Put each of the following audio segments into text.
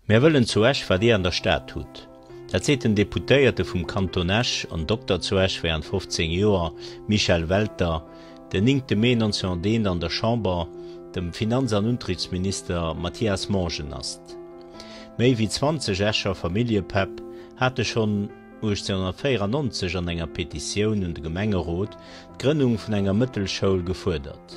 Mär wëllen zu Esch wat Dir an der Stad hutt. Dat seet den Deputéierte vum Kanton Esch an Dokter zu Esch während 15 Joer, Michel Welter, den 9 Mee 1901 an der Chamber dem Finanz an Unterichtsminister Mathias Monge. Asst. Méi wéi 20 Escher Familljepäpp hate schonn 1894 an enger Petitioun un de Gemengerot d'Grënnung vun enger Mëttelschoul gefuerdert.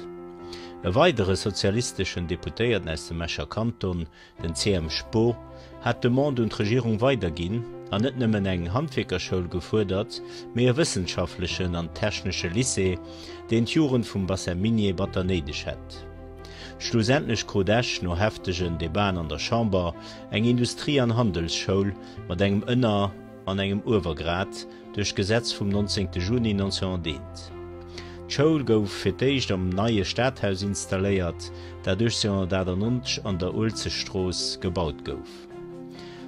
E weidere sozialisteschen Deputéierten aus dem Escher Kanton, den CM. Spo, hat d'Demande un d'Regierung weiderginn an net nëmmen eng Handwierkerschoul gefuerdert, mee e wëssenschaftlechen an technesche Lycée, deen d'Jugend vum Bassin minier batter néideg hätt. Schlussendlech krut Esch no heftegen Debaten an der Chamber eng Industrie an Handelsschoul mat engem Ënner an engem Uewergrad duerch d'Gesetz vum 19 Juni 1901. D'Schoul gouf fir d'éischt am neie Stadhaus installéiert, dat 1898 an der Uelzechtstrooss gebaut gouf.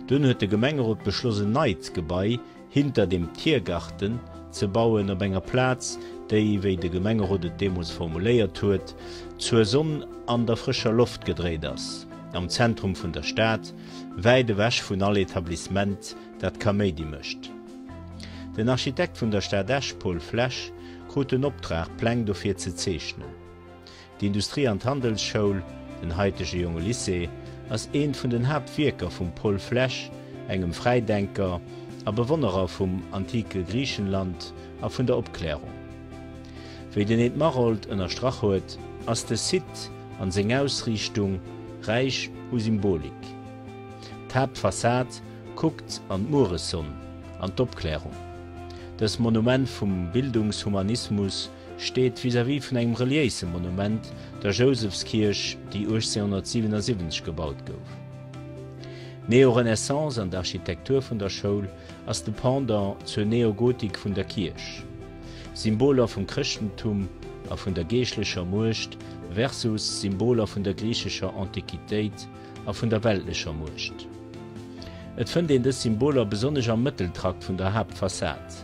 Dunn huet de Gemengerot beschloss en neit Gebai, hinter dem Tiergarten ze bauen, op enger Plaz, déi, wéi de Gemengerot et deemools formuléiert huet, zur Sonn an der frëscher Loft gedréit ass, am Zentrum vun der Stad, wäit ewech vun all Etablissement, dat Kaméidi mécht. Den Architekt vun der Stad Esch, Paul Flesch, krut den Optrag, Pläng dofir ze zeechnen. D'Industrie an d'Handelsschoul, den haitege Jonge Lycée, ass eent vun den Haaptwierker vum Paul Flesch, engem Fräidenker a Bewonnerer vum antike Griichenland a vun der Opklärung. Wéi den Ed Maroldt ënnerstrach huet, ass de Site an seng Ausriichtung räich u Symbolik. D'Haaptfassad kuckt an d'Mueressonn an d'Opklärung. Dës Monument vum Bildungshumanismus steet vis-à-vis vun engem reliéise Monument, der Jousefskierch, déi 1877 gebaut gouf. D'Neorenaissance an d'Architektur vun der Schoul ass de Pendant zur Neogotik vun der Kierch. Symboler vum Chrëschtentum a vun der geeschtlecher Muecht versus Symboler vun der griichescher Antiquitéit a vun der weltlecher Muecht. Et fënnt een dës Symboler besonnesch am Mëtteltrakt vun der Haaptfassad.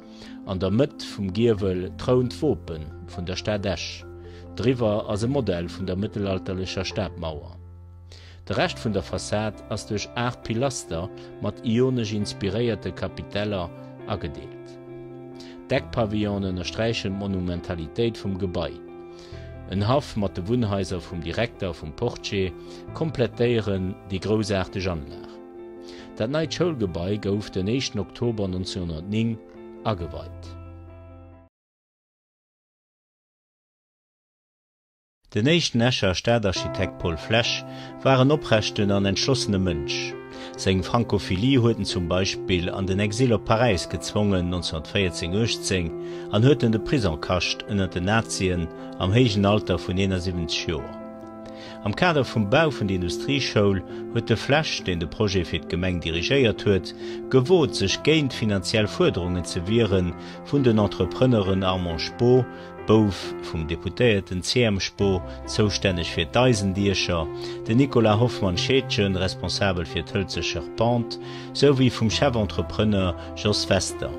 An der Mëtt vum Giewel trount d'Wope vun der Stad Esch. Driwwer ass e Modell vun der mëttelalterlecher Stadmauer. De Rescht vun der Fassad ass duerch aacht Pilaster mat ionesch inspiréierte Kapiteller agedeelt. D'Eckpavillone ënnersträichen d'Monumentalitéit vum Gebai. En Haff mat de Wunnhaiser vum Direkter a vum Portier komplettéieren déi groussaarteg Anlag. Dat neit Schoulgebai gouf den éischten Oktober 1909 ageweit. Den éischten Escher Stadarchitekt Paul Flesch war en oprechten an entschlossene Mënsch. Seng Frankophilie huet en zum Beispill an den Exil op Paräis gezwongen, 1914, 18, an huet en de Prisong kascht ënnert den Nazien am héijen Alter vun 71 Joer. Am Kader vum Bau vun der Industrieschoul huet de Flesch, deen de Projet fir d'Gemeng dirigéiert huet, gewot sech géint finanziell Fuerderungen ze wiere vun den Entrepreneuren Armand Spoo, Bouf vum Deputéierten, CM. Spoo, zoustänneg fir d'Eisendiecher, den Nicolas Hoffmann Scheedgen, Responsabel fir d'Hëlze Charpente, sou wéi vum Chef-Entrepreneur Jos Wester.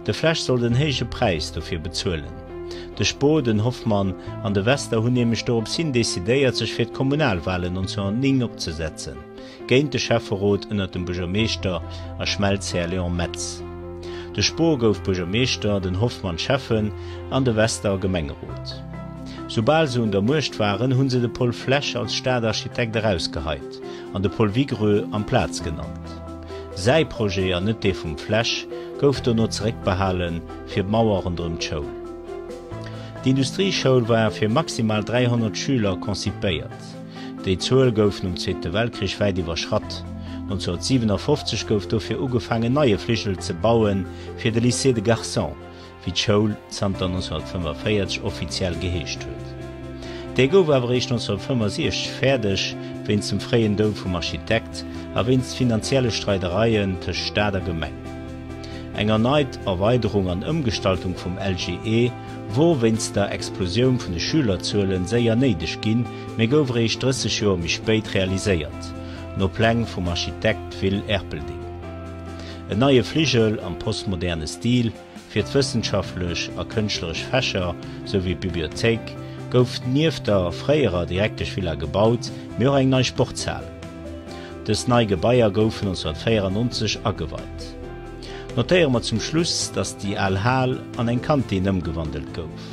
De Flesch soll den héije Präis dofir bezuelen. De Spo, den Hoffmann an de Wester hunn nämlech dorops hin decidéiert, sech fir d'Kommunalwalen 1909 opzesetzen, géint de Schäfferot ënner dem Buergermeeschter a Schmelzhär Léon Metz. De Spo gouf Buergermeeschter, den Hoffmann Schäffen an de Wester Gemengerot. Soubal se un der Muecht waren, hunn se de Paul Flesch als Stadarchitekt erausgeheit an de Paul Vigreux amplaz genannt. Säi Projet, an net dee vum Flesch, gouf dono zeréckbehalen. fir d'Mauer ronderëm d'Schoul. D'Industrieschoul war fir maximal 300 Schüler konzipéiert. Déi Zuel gouf nom Zweete Weltkrich wäit iwwerschratt. 1957 gouf dofir ugefaangen en neie Fligel ze baue fir de Lycée de Garçons, wéi d'Schoul zanter 1945 offiziell geheescht huet. Dee gouf awer eréischt 1965 fäerdeg, wéinst dem fréien Doud vum Architekt a wéinst finanzielle Streidereien tëscht Staat a Gemeng. Eng erneit Erweiderung an Ëmgestaltung vum LGE wor wéinst der Explosioun vun de Schülerzuelen séier néideg ginn, mee gouf eréischt 30 Joer méi spéit realiséiert, no Pläng vum Architekt Will Erpelding. En neie Fligel am postmoderne Stil fir d'wëssenschaftlech a kënschtleresch Fächer souwéi d'Bibliothéik gouf nieft der fréierer Direkteschvilla gebaut, mee och eng nei Sportshal. Dës nei Gebaier goufen 1994 ageweit. Notéiere mer zum Schluss, dass déi al Hal an eng Kantin ëmgewandelt gouf.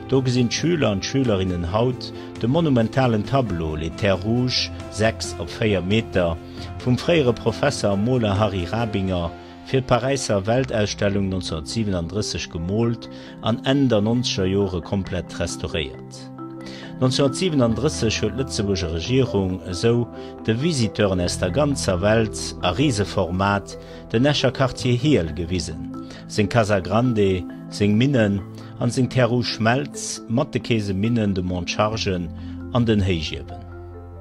Do gesinn d'Schüler an d'Schülerinnen haut de monumentalen Tableau Les Terres Rouges, 6 op 4 Meter, vum fréiere Professer a Moler Harry Rabinger, Fir d'Paräisser Weltausstellung 1937 gemoolt an Enn der nonzeger Jore komplett restauréiert. 1937 huet d'Lëtzebuurger Regierung esou de Visiteuren aus der ganzer Welt a Riseformat den Escher Quartier Hiehl gewisen, seng Casa Grande, seng Minnen an seng Terre Rouge Schmelz mat de Käseminnen, de Mont Chargen an den Héichiewen.